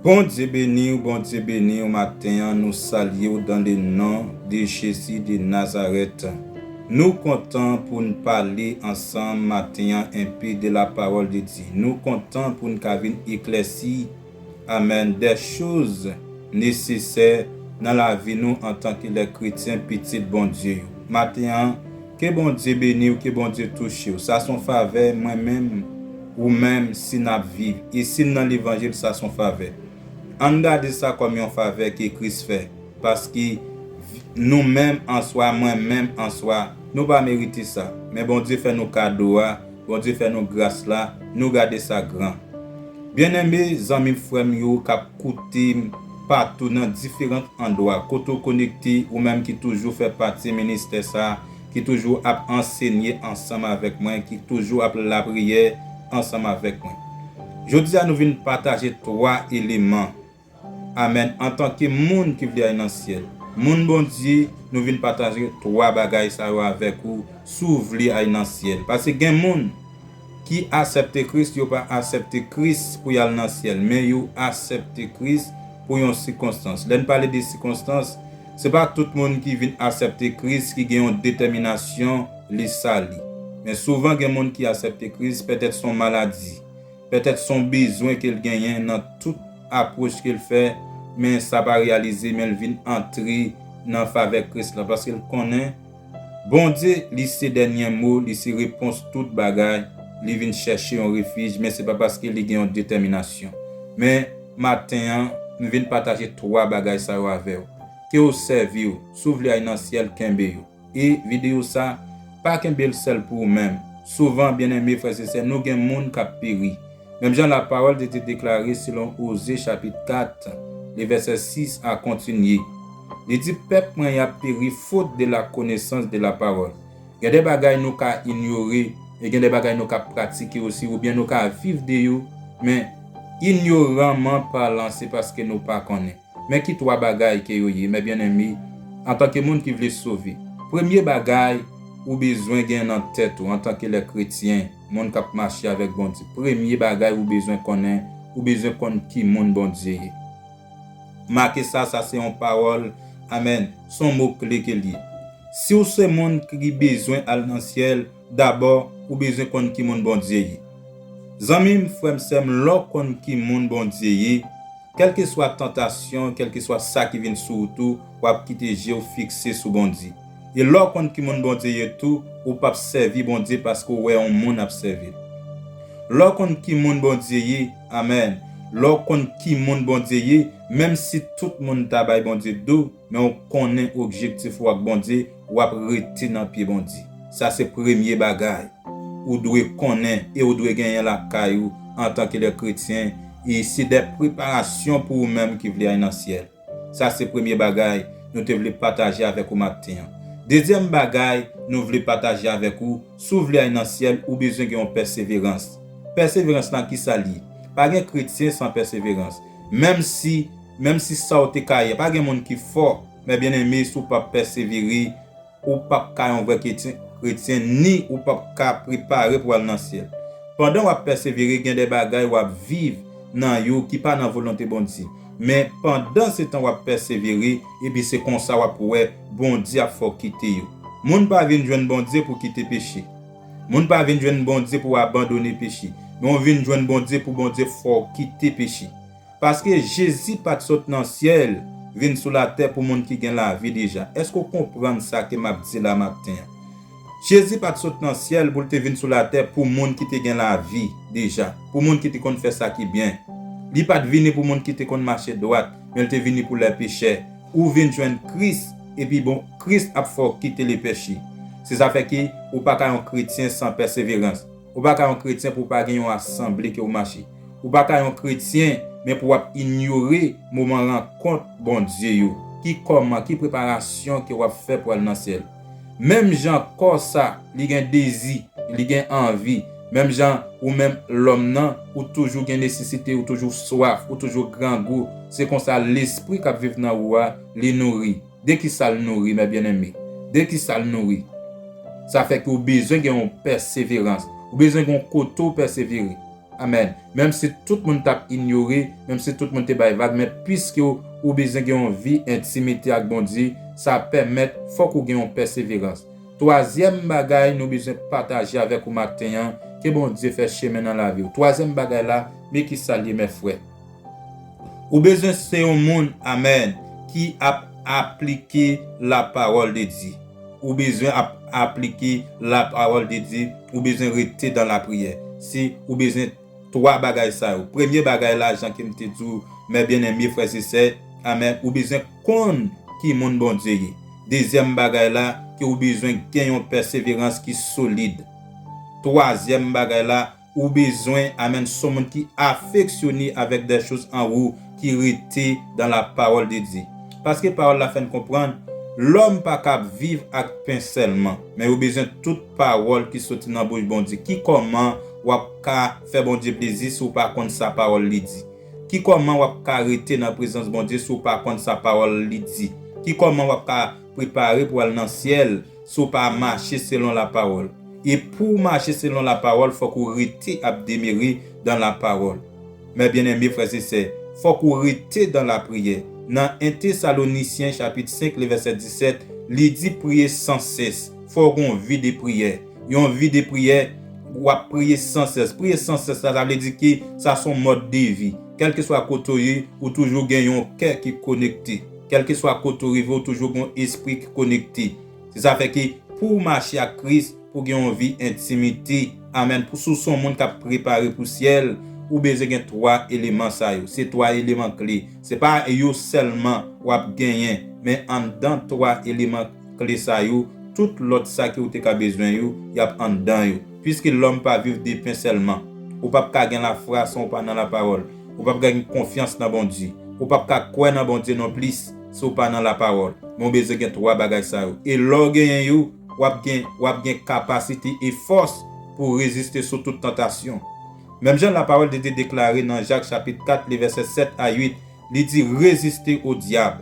Bondye beniw Bondye beniw maten an nou salyew dan le non de jezi de nazarèt nou kontan poun pale ansanm maten an enpe de la pawòl de Dye nou kontan poun ka vin eklèsi amèn dè choz nesesè nan lavi nou antanke lè kretyen pitit Bondye yo maten an Ke Bondye beniw ke Bondye touchew sa son favè mwen menm ou menm si nap viv e sin nan levanjil sa son favè Ann gade sa kòm yon favè ke Kris fè paske nou menm answa mwen menm answa nou pa merite sa men Bondye fè nou kado a Bondye fè nou gras la nou gade sa gran. Byeneme zanmim frèm yo kap koutem patou nan diferant andwa kote w konekte ou menm ki toujou fè pati ministè sa ki toujou ap ansenye ansanm avèk mwen ki toujou ap lapriyè ansanm avèk mwen jodia nou vin pataje 3 eleman Amen antanke moun ki vle al nan syèl moun Bondye nou vin pataje 3 bagay sa yo avèk ou si w vle al nan syèl paske gen moun ki asèpte Kris yo pa asèpte Kris pou yal nan syèl men yo asèpte Kris pou yon sikonstans lè n pale de sikonstans se pa tout moun ki vin asèpte Kris ki gen yon detèminasyon li sali men souvan gen moun ki asèpte Kris pètèt son maladi Pètèt son bezwen kel genyen nan tout apwoch kel fè men sa pa reyalize menl vin antre nan favè Kris la paskel konnen Bondye li se dènyen mo li se repons tout bagay li vin chèche yon refij men se pa paske li gen yon detèminasyon men maten an m vin pataje 3 bagay sa yo avèw kew sèviw sou vle ay nan syèl kenbe yo. E video sa, pa kenbel sèl pou ou menm. Souvan, byeneme frè se sè, nou gen moun k ap peri. Menm jan lapawòl de Dye deklare selon Oze chapit 4, li vèsè 6 a kontinye. Li di pèp mwen y ap peri fot de la konesans de la pawòl. Gen de bagay nou ka inyore e gen de bagay nou ka pratike osi oubyen nou ka viv de yo men inyoranman palan se paske nou pa konnen. Men ki twa bagay ke yo ye, mè byenneme, antanke moun ki vle sove. Premye bagay ou bezwen gen nan tèt ou, antanke lè kretyen, moun k ap mache avèk Bondye, premye bagay ou bezwen konnen, ou bezwen konn ki moun Bondye ye. Make sa, sa se yon pawòl, amèn, s on mo kle ke l ye. Si w se moun ki bezwen al nan syèl, dabò ou bezwen konn ki moun Bondye ye. Zanmi m, frè m, sè m, lè w konn ki moun Bondye ye, kèlkeswa tantasyon, kèlkeswa sa ki vin sou ou tou, w ap kite je w fikse sou Bondye. E lè w konn ki moun Bondye ye tou, ou p ap sèvi Bondye paske w wè yon moun ap sèvi l. Lè w konn ki moun Bondye ye, amèn, lè w konn ki moun Bondye ye, menmsi tout moun ta bay Bondye do, men w konnen objektif ou ak Bondye, wap rete nan pye Bondye. Sa se premye bagay ou dwe konnen e ou dwe genyen lakay ou antan ke lè kretyen e se dè preparasyon pou ou menm ki vle al nan syèl. Sa se premye bagay nou te vle pataje avèk ou maten an. Dezyèm bagay nou vle pataje avèk ou, si ou vle al nan syèl ou bezwen gen yon pèseverans. Pèseverans lan kisa li ye? Pa gen kretyen san pèseverans. Menm si, menm si sa ou te ka ye, pa gen moun ki fò. Mè byen eme si w pap pèsevere ou pap ka yon vrè kretyen ni ou pap ka prepare pou w al nan syèl. Pandan w ap pèsevere gen de bagay w ap viv nan yo ki pa nan volonte Bondye. Men pandan se tan w ap pèsevere epi se konsa w ap wè Bondye ap fè w kite yo. Moun pa vin jwenn Bondye pou kite peche. Moun pa vin jwenn Bondye pou abandone peche. Men w vin jwenn Bondye pou Bondye fè w kite peche. Paske Jezi pa t sot nan syèl vin sou latè pou moun ki gen lavi deja. Èske w konprann sa ke m ap di la maten an? Jezi pa t sot nan syèl pou l te vin sou latè pou moun ki te gen lavi deja, pou moun ki te konn fè sa ki byen. Li pa t vini pou moun ki te konn mache dwat, men l te vini pou lè pechè. Ou vin jwenn Kris, epi bon, Kris ap fè w kite lepeche. Se sa fè ke ou pa ka yon kretyen san pèseverans. Ou pa ka yon kretyen pou w pa gen yon asanble ke w mache. Ou pa ka yon kretyen men pou w ap inyore moman rankont Bondye yo. Ki kòman, ki preparasyon ke w ap fè pou al nan syèl? Menm jan kò sa, li gen dezi, li gen anvi, menm jan ou menm lòm nan, ou toujou gen nesesite, ou toujou swaf, ou toujou grangou, se konsa lespri k ap viv nan ou a, li nouri. De ki sa l nouri, mè byenneme? De ki sa l nouri? Sa fè ke w bezwen gen yon pèseverans. Ou bezwen gen yon kote w pèsevere. Amèn. Menm si tout moun t ap inyore, menm si tout moun te bay vag, men piske ou bezwen gen yon vi entimite ak Bondye, sa pèmèt fòk ou gen yon pèseverans. Twazyèm bagay nou bezwen pataje avèk ou maten an, ke Bondye fè chemen nan lavi w. Twazyèm bagay la, me ki sa l ye, mè frè. Ou bezwen se yon moun amen ki ap aplike la parole de Dieu ou bezwen ap aplike la parole de Dieu ou bezwen rete dan la priyè se ou bezwen 3 bagay sa yo premye bagay la jan kem te diw mè byen enmye frèz e sè amen ou bezwen konn ki moun Bondye ye dezyèm bagay la ke ou bezwen gen yon pèseverans ki solid twazyèm bagay la Ou bezwen amen son moun ki afeksyone avek dè choz an wou ki rete dan la pawol de Dye. Paske pawol la fè n konprann lòm pa kab viv ak pen sèlman, men yo bezwen tout pawol ki soti nan bouch Bondye. Ki kòman wap ka fè Bondye plezi si w pa konn sa pawol li di? Ki kòman wap ka rete nan prezans Bondye si w pa konn sa pawol li di? Ki kòman wap ka. Prepare pou al nan syèl si w pa mache selon la pawòl. E pou w mache selon la pawòl fòk ou rete ap demere dan la pawòl. Mè byeneme frè se sè, fòk ou rete dan la priyè. Nan 1 Tesalonisyen chapit 5 le vèsè 17, li di priye san sès. Fò w gon vi de priyè. Yon vi de priyè, w ap priye san sès. Priye san sès la, sa vle di ke sa son mòd de vi. Kèlkeswa kote w ye, ou toujou gen yon kè ki konekte. Kèlkeswa kote ou rive ou toujou gen yon espri ki konekte. Se sa fè ke pouw mache ak Kris, pouw gen yon vi entimite, amen, pou si w se yon moun kap prepare pou syèl, ou bezwen gen 3 eleman sa yo. Se 3 eleman kle. Se pa yo sèlman wap genyen, men anndan 3 eleman kle sa yo, tout lòt sa ke ou te ka bezwen yo, yap anndan yo. Puiske lòm pa viv de pen sèlman. Ou pap ka gen lafwa san ou pa nan lapawòl. ou pap ka gen konfyans nan Bondye, ou pap ka kwè nan Bondye non plis si w pa nan lapawòl, men w bezwen gen 3 bagay sa yo, e lè w genyen yo, wap gen wap gen kapasite e fòs pou w reziste sou tout tantasyon. Menm jan lapawòl de Dye deklare nan Jak chapit 4 li vèsè 7 a 8, li di reziste o dyab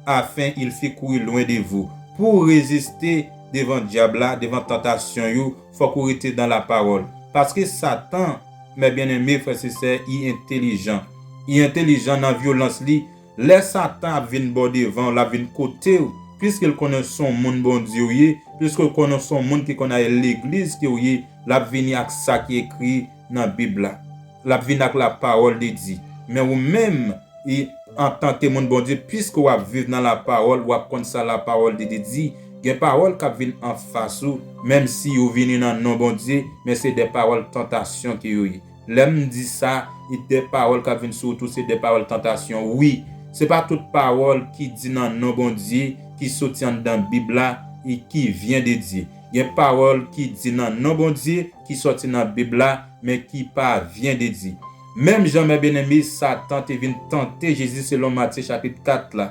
afen il fi kouri lwen de vou, pou w reziste devan dyab la, devan tantasyon yo, fòk ou rete nan lapawòl, paske satan. Mè byeneme frè se sè I entelijan I entelijan nan vyolans li lè satan ap vin baw devan lap vin kotew pwiskel konnen son moun Bondye ou ye pwiskel konnen son moun ki konn ale legliz ke ou ye lap vini ak sa ki ekri nan bib la lap vini ak la pawòl de Dye men ou menm I antanke moun Bondye pwiske wap viv nan la pawòl wap konn sa la pawòl de Dye di. Gen pawòl kap vin anfas ou menm si yo vini nan non Bondye men se de pawòl tantasyon ke yo ye lèm di sa e de pawòl kap vin sou ou tou se de pawòl tantasyon wi se pa tout pawòl ki di nan non Bondye ki soti anndan bib la e ki vyen de Dye gen pawòl ki di nan non Bondye ki sòti nan bib la men ki pa vyen de Dye menm jan mè byeneme satan te vin tante Jezi selon Matye chapit 4 la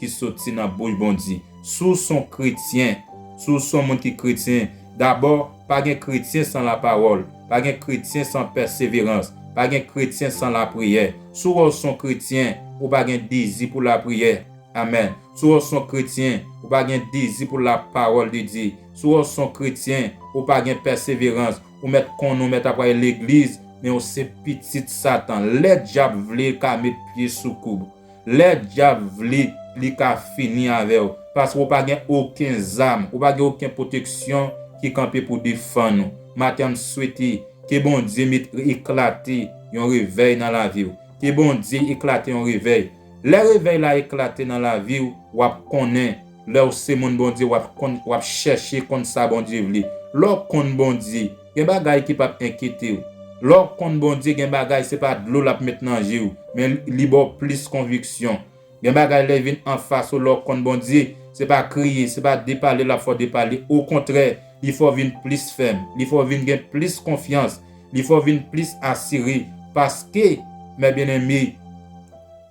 ki soti nan bouch Bondye. Si w s on kretyen, si w s on moun ki kretyen, dabò, pa gen kretyen san lapawòl, pa gen kretyen san pèseverans, pa gen kretyen san lapriyè. Si w wè w s on kretyen, ou pa gen dezi pou lapriyè. Amen. Si w wè w s on kretyen, ou pa gen dezi pou lapawòl de Dye. Si w wè w s on kretyen, ou pa gen pèseverans. Ou mèt konnen w mèt ap al legliz, men w se pitit Satan. Lè dyab vle l ka met pye sou kou w. Lè dyab vle li ka fini avèw paske ou pa gen oken zam ou pa gen oken pwoteksyon ki kanpe pou defann ou maten m swete ke Bondye met eklate yon revèy nan laviw ke Bondye eklate yon revèy lè revèy la eklate nan laviw wap konnen lèw se moun Bondye wap konn wap chèche konn sa Bondye vle lèw konn Bondye Gen bagay ki pap enkyetew. Lè w konn Bondye gen bagay se pa dlo lap met nan je w men li ba w plis konviksyon. Gen bagay lè vin anfas ou lè w konn Bondye se pa kriye se pa depale lap fè w depale okontrè li fè w vin plis fèm li fè w vin gen plis konfyans li fè w vin plis asire paske mè byeneme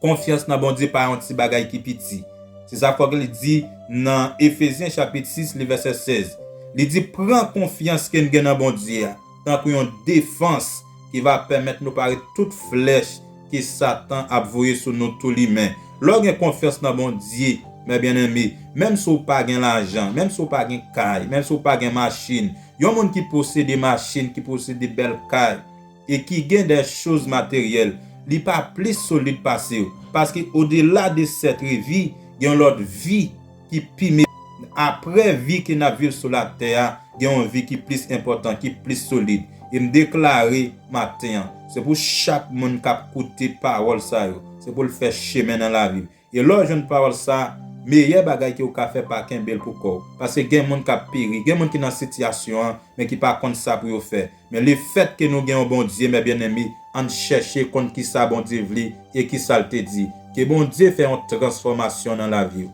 Konfyans nan Bondye pa yon ti bagay ki piti. Se sa fòk li di nan Efezyen chapit 6 li vèsè 16. Li di pran konfyans ke n gen nan Bondye a tankou yon defans ki va pèmèt nou pare tout flèch ke satan ap voye sou nou tou limen. Lè w gen konfyans nan Bondye, mè byenneme, menm si w pa gen lajan, menm si w pa gen kay, menm si w pa gen machin, yon moun ki posede machin, ki posede bèl kay, e ki gen dè choz materyèl, li pa plis solid pase yo, paske odela de sèt revi, gen yon lòt vi ki pi me, aprè vi ke nap viv sou latè a, gen yon vi ki plis enpòtan, ki plis solid, e m deklare maten an, se pou chak moun kap koute pawòl sa yo, se pou l fè chemen nan lavi l, E lè w jwenn pawòl sa, meyè bagay ke w ka fè pa kenbe l pou kò w. Paske gen moun k ap peri, gen moun ki nan sitiyasyon an, men ki pa konn sa pou yo fè. Men lefèt ke nou gen yon Bondye, mè byeneme, ann chèche konn kisa Bondye vle e kisa l te di. Ke Bondye fè yon transfòmasyon nan lavi w.